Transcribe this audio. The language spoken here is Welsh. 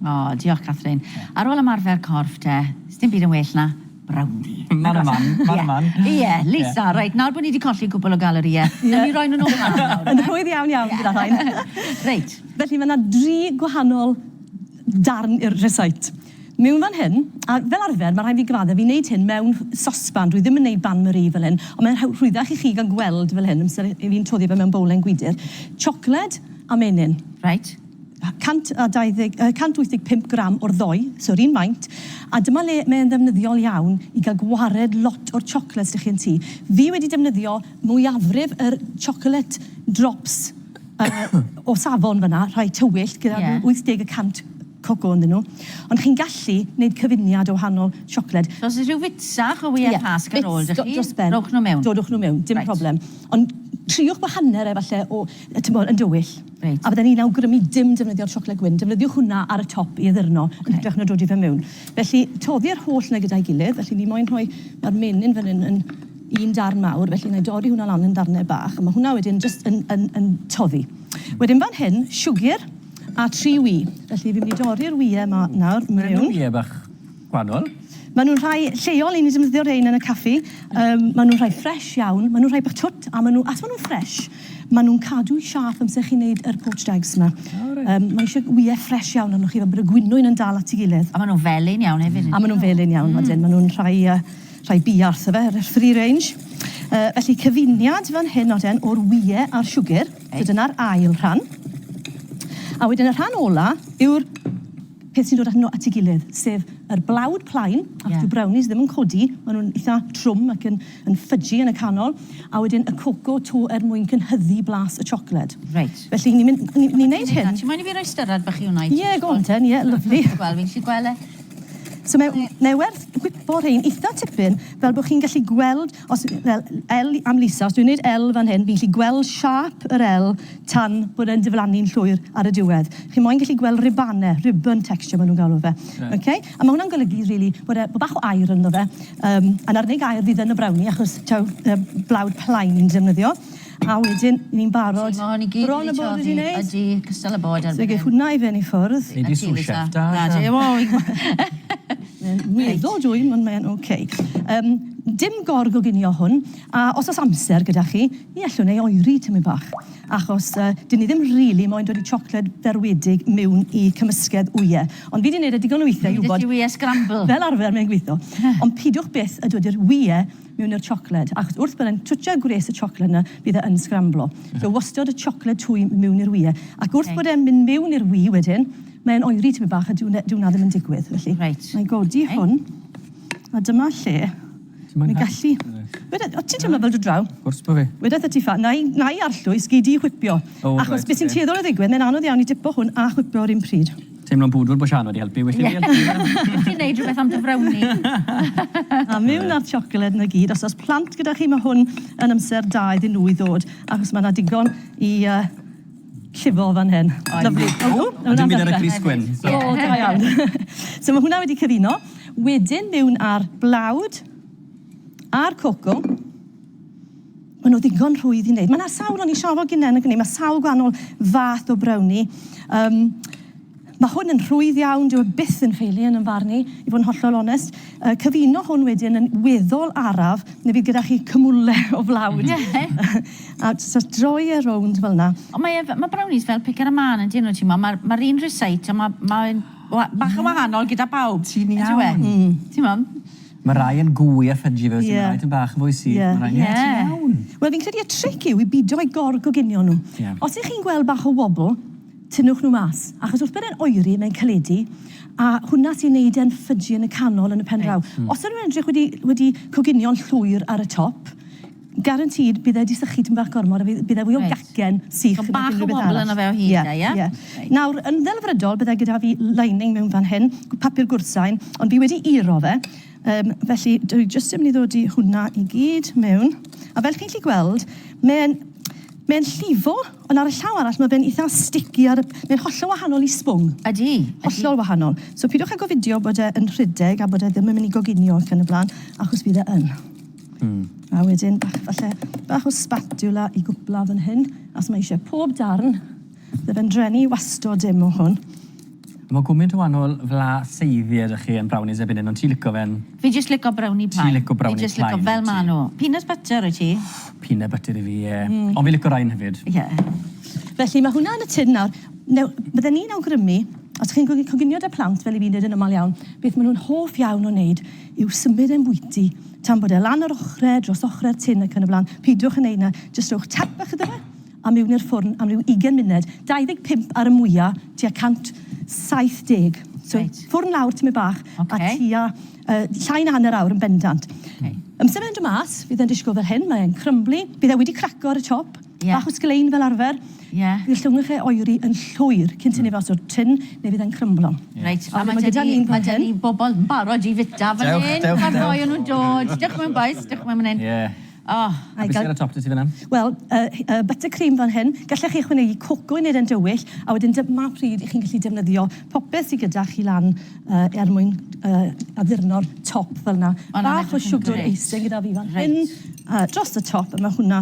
O, diolch Catherine. Ar ôl ymarfer corff te, sdim byd yn well na brownie. Man a man, man a man. Ie, Lisa, reit, nawr bod ni wedi colli cwpl o galorïau, wnawn ni roi nhw'n ôl mas nawr. Yn rhwydd iawn iawn gyda rhain. Reit. Felly mae yna dri gwahanol darn i'r rhesait. Mewn fan hyn, a fel arfer, mae rhaid fi gyfadde, fi'n neud hyn mewn sosban, dwi ddim yn neud ban Marie fel hyn, ond mae'n rhwyddach i chi gael gweld fel hyn, amser i fi'n toddi fe mewn bowlen gwydr. Siocled a menyn. Reit. 120, yy 185 gram o'r ddoe, so 'r un maint, a dyma le mae e'n ddefnyddiol iawn i ga'l gwared lot o'r chocolate s'da chi yn tŷ. Fi wedi defnyddio mwyafrif yr chocolate drops yy o safon fan 'na, rhai tywyllt gyda... Ie. ...ryw 80 y cant coco ynddyn nhw, ond chi'n gallu neud cyfuniad o wahanol siocled. So os o's rhyw fits fach o wyau Pasg ar ôl 'da chi... Ie, bits dros ben. ...rowch nhw mewn. Dodwch nhw mewn, dim problem. Reit. Ond triwch gwahaner e falle o, yy t'mod, yn dywyll. A fydden i'n awgrymu dim defnyddio'r siocled gwyn, defnyddiwch hwnna ar y top i addurno yn hytrach na dodi fe mewn. Felly, toddi'r holl 'na gyda'i gilydd. Felly, ni moyn rhoi... Ma'r menyn fan hyn yn un darn mawr, felly wna i dorri hwnna lan yn ddarnau bach, a ma' hwnna wedyn jyst yn yn yn toddi. Wedyn fan hyn, siwgr a tri wy. Felly, fi'n mynd i dorri'r wye 'ma nawr mewn. Beth yw'r wye bach? gwahanol. Maen nhw'n rhai lleol, i ni defnyddio rhein yn y caffi. Um, maen nhw'n rhai ffres iawn, maen nhw'n rhai bach twt, a maen nhw, as maen nhw'n ffres, maen nhw'n cadw siâp amser chi'n neud yr poached eggs yma. Oh, right. um, mae eisiau wyau ffres iawn arnoch chi, fel bod y gwynwyn yn dal at ei gilydd. A maen nhw'n felyn iawn hefyd. A maen nhw'n felyn iawn, mm. maen nhw'n rhai, uh, rhai biarth, efe, yr free range. Uh, felly cyfuniad fan hyn oedden o'r wyau a'r siwgr, so dyna'r ail rhan. A wedyn y rhan ola yw'r peth sy'n dod â nhw at ei gilydd, sef yr blawd plaen, ac yeah. dyw brownies ddim yn codi, maen nhw'n eitha trwm ac yn, yn ffydgi yn y canol, a wedyn y coco to er mwyn cynhyddu blas y siocled. Reit. Felly ni'n mynd, ni'n ni neud hyn. Ti'n moyn i fi roi styrad bach i hwnna i ti? Ie, yeah, go on ten, ie, yeah, lyflu. Wel, fi'n lli gweld e. So mae, mae werth gwipo rhein eitha tipyn, fel bod chi'n gallu gweld Os, fel, L am Lisa, os dwi'n gwneud L fan hyn, fi'n gallu gweld siâp yr L tan bod e'n diflannu'n llwyr ar y diwedd. Chi moyn gallu gweld ribanau, ribbon texture maen nhw'n galw fe. Yeah. Okay? A mae hwnna'n golygu, really, bod e bod bach o air ynddo fe. Um, a'n arnig air fydd yn y brownie, achos taw uh, blawd plaen ni'n defnyddio. A wedyn ni'n barod. Mae hon i gyd wedi toddi. Ydy, cystal â bod erbyn hyn. So gei hwnna i fynd i ffwrdd. Nei di sous chef da. Na, dim ond. Mae'n meddwl dwi, ond mae'n ok. Yym, dim gorg o ginio hwn, a os oes amser gyda chi, ni allwn ei oeri tymyn bach, achos yy, dyn ni ddim rili moyn dod i siocled ferwedig miwn i cymysgedd wyau. Ond fi di neud e digon o weithiau i wybod... Dwi di wye scramble. Fel arfer mae'n gweithio. Ond pidiwch byth a dod i'r wyau mewn i'r siocled, achos wrth byddai'n twtsio gwres y siocled 'na, bydd e yn sgramblo. So wastod y siocled twym mewn i'r ŵyr. Ac wrth bod e'n mynd mewn i'r ŵyr wedyn, mae'n oeri tipyn bach a dyw 'na dyw 'na ddim yn digwydd, felly... Reit. ...'nai godi hwn, a dyma lle ni'n gallu... Weda- o ti'n teimlo fel dod draw? Wrth gwrs bo fi. Wedetha ti ffa- 'nai 'nai arllwys gei di whipio. O reit. Achos be' sy'n tueddol o ddigwydd, mae'n anodd iawn i dipo hwn a chwipio 'r un pryd. Teimlo'n bwdwr bod Sian wedi helpu, well i fi helpu fe! Gallwch chi wneud rhywbeth am dy frawni? A miwn na'r tsiocled 'na gyd. Os oes plant gyda chi, mae hwn yn amser da iddyn nhw i ddod, achos mae 'na digon i llifo fan hyn. Lyfli. A dim byd ar y crys gwyn. O, da iawn. So mae hwnna wedi cyfuno. Wedyn miwn â'r blawd a'r coco. Maen nhw ddigon rhwydd i wneud. Mae yna sawl, o'n i siarad gynnau yn y mae sawl gwahanol fath o browni. Um, Mae hwn yn rhwydd iawn, dyw e byth yn ffeili yn ymfarn i, i fod yn hollol onest. Uh, cyfuno hwn wedyn yn weddol araf, neu fydd gyda chi cymwle o flawd. a just droi e rownd fel yna. Ond mae, e, mae brownies fel picker a man yn dyn nhw, ti'n mo? Mae'r ma un rhysait, ond mae, mae bach yn wahanol gyda pawb. Ti'n iawn. Ti'n mo? Mae rhai yn gwy a fudgy felly yeah. mae rhai yn bach yn fwy sych. Yeah. Rhai... Yeah. yeah. iawn. Wel fi'n credu y tric yw i bido i gorgoginio nhw. Yeah. Os ych chi'n gweld bach o wobl, tynnwch nhw mas. Achos wrth bod e'n oeri, mae'n caledu, a hwnna sy'n neud e'n ffydgi yn y canol yn y pen draw. Right. Mm. Os ydyn nhw'n edrych wedi, wedi coginio'n llwyr ar y top, Guaranteed bydd e 'di sychu tipyn bach gormod a fydd bydd e fwy o gacen sych nag unrhyw beth arall. So bach o wobble yno fe o hyd 'na ie? Ie. Nawr yn ddelfrydol bydd e gyda fi lining mewn fan hyn, papur gwrthsain, ond fi wedi uro fe yym felly dwi jyst yn mynd i ddod i hwnna i gyd mewn a fel chi'n gallu gweld mae'n mae'n llifo ond ar y llaw arall ma' fe'n itha sticky ar y mae'n hollol wahanol i sbwng. Ydi ydi. Hollol wahanol. So pidiwch â gofidio bod e yn rhedeg a bod e ddim yn mynd i goginio ac yn y bla'n achos bydd e yn. Mm. A wedyn bach, falle, bach o spatula i gwpla fan hyn, as mae eisiau pob darn. Bydd yn drenu wastod dim o hwn. Mae gwmynt o wahanol fla seiddi ydych chi yn brownies erbyn hyn, ond ti'n licio fe'n... Fi jyst licio brownie plain. Ti'n licio brownie plain. Fi jyst licio fel ma nhw. Peanut butter i ti? Peanut butter i fi, ie. Mm. Ond fi licio rhain hefyd. Ie. Yeah. Felly mae hwnna yn y tin nawr. Now, bydden ni'n awgrymu, os chi'n coginio da plant fel i fi wneud yn ymal iawn, beth maen nhw'n hoff iawn o wneud yw symud e'n bwyty. Tan bod e lan yr ochrau, dros ochrau'r tin ac yn y blaen, peidiwch yn neud 'na, jyst rhowch tap bach iddo fe a miwn i'r ffwrn am ryw ugain munud, 25 ar y mwya, tua 170. So, Reit. ffwrn lawr tymed bach a tua yy llai na hanner awr yn bendant. Amser mae'n dod mas, bydd e'n disgwyl fel hyn, mae'n crymbly, bydd e wedi craco ar y top. Ie. Bach o sglein fel arfer. Ie. Bydd llongwch e oeri yn llwyr cyn tynnu fe o's o'r tin neu fydd e'n crymblo. Reit. A ma' gyda ni, ma' gyda ni bobol yn barod i fita fan hyn. Dewch, dewch, dewch. Ma'r ddou o nw'n dod. Dewch mewn bois, dewch mewn man 'yn. Ie. O. A be' sy ar y top 'da ti fan 'na? Wel, y h- y butter cream fan hyn. Gallech chi ychwanegu coco i neud e'n dywyll, a wedyn dy- ma' pryd 'ych chi'n gallu defnyddio popeth sy gyda chi lan yy er mwyn yy addurno'r top fel 'na. Bach o siwgr icing gyda fi fan hyn. Reit. A dros y top a ma' hwnna